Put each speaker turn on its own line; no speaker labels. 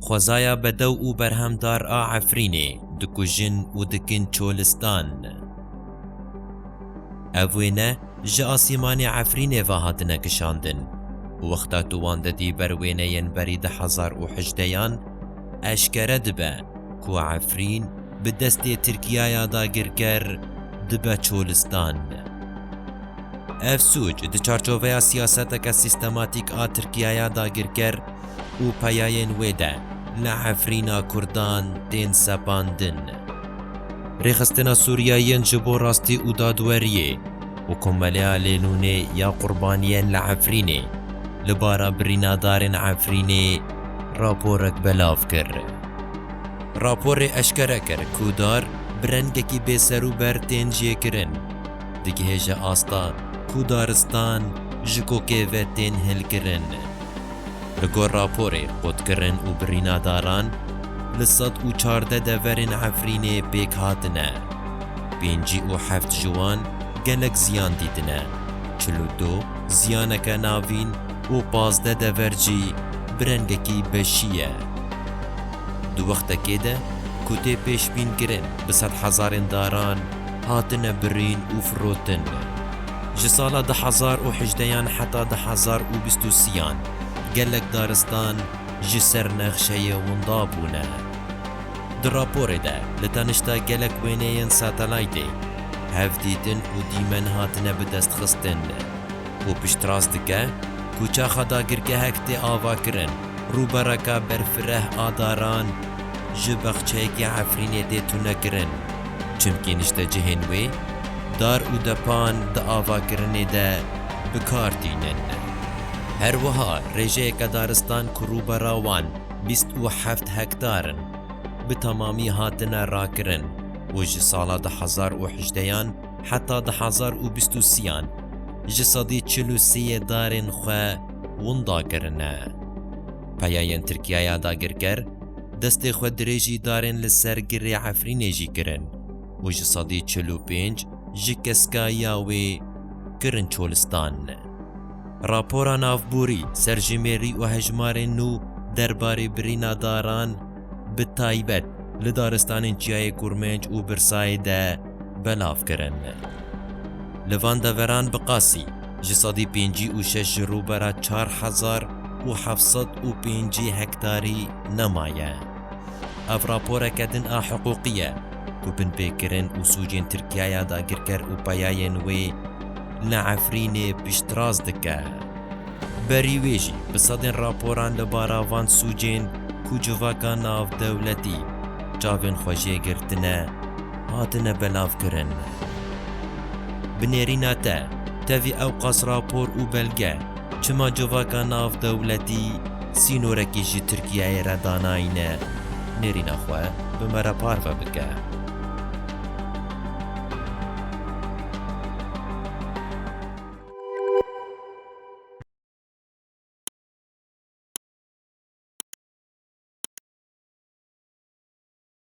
Xwezaya bedew û berhemdar a Efrînê dikujin û dikin çolistan. Ev wêne ji asîmanê Efrînê ve hatine kişandin. Wexta tu wan didî ber wêneyên berî di hezar û hejdeyan, eşkere dibe ku Efrîn, bi destê Tirkiyaya dagirker dibe çolistan. Ev sûc di çarçoveya siyaseteke sîstematîk a Tirkiyaya dagirker û peyayên wê de li Efrîna Kurdan tên sepandin. Rêxistina Sûriyeyên ji bo Rastî û Dadweriyê û Komeleya Lênûnê ya Qurbaniyên li Efrînê li bara birînadarên Efrînê raporek belav kir. Raporê eşkere kir ku dar bi rengekî bêserûber tên jêkirin, digihêje asta ku daristan ji kokê ve tên hêlkirin. Li gor raporê qutkirin û birîna daran li sed û çardeh deverên Efrînê pêk hatine. Pêncî û heft ji wan gelek ziyan dîtine, çil û du ziyaneke navîn, û pazdeh dever jî bi rengekî beşî ye. Di wextekê de ku tê pêşbînkirin bi sed hezarên daran hatine birîn û firotin, ji sala du hezar û hejdeh yan heta du hezar û bîst û sî yan gelek daristan ji ser nexşeyê winda bûne. Di raporê de li tenişta gelek wêneyên satelaytê hevdîtin û dîmen hatine bidestxistin. û piştrast dike ku çaxa dagirgehek tê avakirin. Rûbereka berfireh a daran ji baxçeyekî Efrînê tê tunekirin, çimkî niştecihên wê dar û depan di avakirinê de bi kar tînin. Her wiha rêjeyeke daristan ku rûbera wan bîst û heft hektar in, bi temamî hatine rakirin û ji sala du hezar û hejdeyan, Heta di hezar û bîst û sîyan ji sedî çil û sê yê darên xwe winda kirine. Peyayên Tirkiyaya dagirker destê xwe dirêjî darên li ser girê Efrînê jî kirin û ji sedî çil û pênc ji keskayiya wê kirin Çolistan. Rapora navborî ser jimêrî û hejmarên nû derbarê birîna daran bi taybet li daristanên Çiyayê Kurmenc û Birsayê de, belav kirin. Li van deveran bi qasî ji sedî pêncî û şeş ji rûbera çar hezar û heft sed û pêncî hektarî nema ye. Ev raporeke din a hiqûqî ye ku binpêkirin û sûcên Tirkiyaya dagirker û peyayên wê li Efrînê piştrast dike. Berî wê jî bi sedên raporan li bara van sûcên ku civaka navdewletî çavên xwe jê girtine, hatine belavkirin. Bi nêrîna te, tevî ewqas rapor û belge çima civaka navdewletî sînorekî ji Tirkiyeyê re danayîne, nêrîna xwe bi me re parve bike.